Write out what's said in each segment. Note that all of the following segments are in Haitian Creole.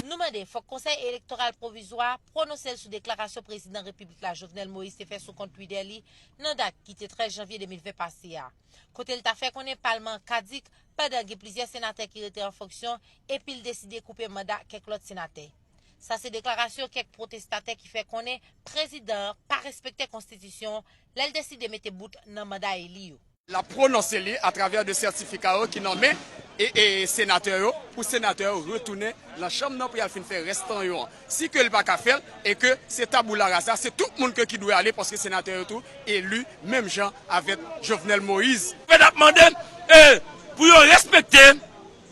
Nou mande fòk Konsèy Elektoral Pwovizwa a pwononse l sou deklarasyon Prezidan Repiblik la Jovenel Moïse te fè sou kont Twitter li nan dat ki te 13 janvye 2020 pase a, kote l ta fè konnen palman an kadik pandan gen plizyè senatè ki rete an fonksyon epi l deside koupe manda kèk lòt senatè. Sa se deklarasyon kèk pwotestatè ki fè konnen prezidan an pa respekte konstitisyon lè l deside mete bout nan manda eli yo. L ap pwononse li atravè 2 sètifika yo ki nan men senatè yo pou senatè yo retounen nan chanm nan pou y al fin fè rès tan yo an. Si ke l pa ka fè l e ke se taboula rasa, se tout moun ke ki dwe ale paske senatè yo tou eli menm jan avèk Jovenel Moïse. Fed ap mande pou yo respekte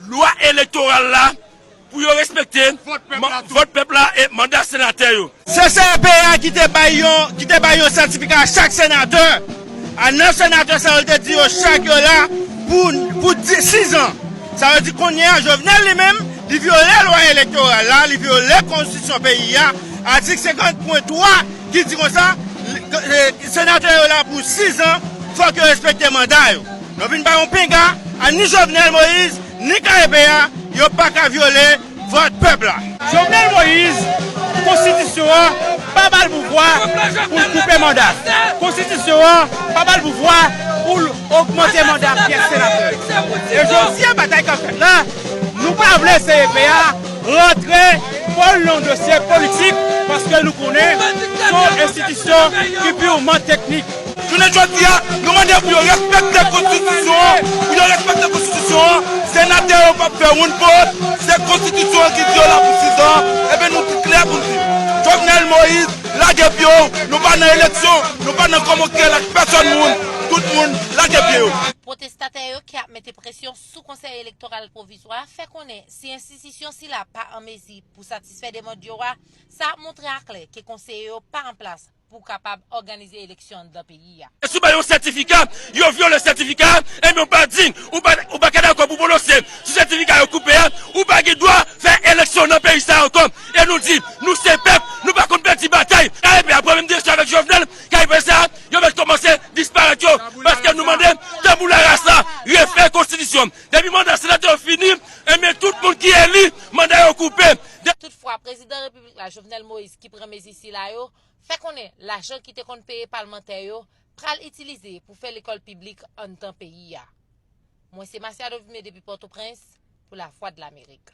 Lwa elektoral la pou yo respekte vòt pèp la e manda senatè yo. Se CRP a ki te bay yon ki te bay yon sètifika a chak senatè. A 9 senatè sa yo l te di yo chak yo la pou pou 6 an. Sa vle di kounye a Jovenel li menm li vyole lwa elektoral la, li vyole konstitisyon peyi a, atik 50 pwen 3 ki di konsa senatè yo la pou 6 an fòk yo respekte manda yo. Yo vin pa yon pinga a ni Jovenel Moïse ni KEP a yo paka vyole vòt pèp la. Jovenel Moïse konstitisyon an pa bal pouvwa poul koupe manda, konstitisyon an pa bal pouvwa poul ogmante manda pyès senatè. E jodia batay kap fèt la nou pa vle CEP a rantre kòl nan yon dosye politik paske nou konnen son enstitisyon ki piwman teknik. Jounen jodi a, nou mande pou yo respekte konstitisyon an, pou yo respekte konstitisyon an, senatè yo pap fè oun fot, se konstitisyon an ki di yo la pou 6 an, ebyen nou di klè pou n di, Jovenel Moïse lage pye w, nou pa nan eleksyon, nou pa nan kòmokèl ak pèsòn moun, tout moun lage pye yo. Pwotestatè yo ki ap mete presyon sou Konsèy Elektoral Pwovizwa a fè konnen si enstitisyon sila pa an mezi pou satisfè demand yo a, sa ap montre a klè ke konseye yo pa an plas pou kapab òganize eleksyon anndan peyi a. Si w bay yon sètifika, yo vyole sètifika a, enben ou pa dign, ou pa ou pa ka dakò pou pwononse sou sètifika yo koupe a, ou pa gen dwa fè eleksyon nan peyi sa a ankò. E nou di, nou se pèp, nou pa konn pèdi batay. Kayipè a pran menm direksyon avèk Jovenel, kayipè sa a, yo mèt kòmanse disparèt yo, paske nou mande Taboula Rasa refè konstitisyon. Depi manda senatè yo fini, enben tout moun ki eli, manda yo koupe. Toutfwa, Prezidan Repiblik. Repiblik la, Jovenel Moïse, ki pran mezi sila yo, fè konnen lajan ki te konn peye palmantè yo pral itilize pou fè lekòl piblik anndan peyi a. Mwen se Masiado Vime depi Pòtoprens pou Lavwadlamerik.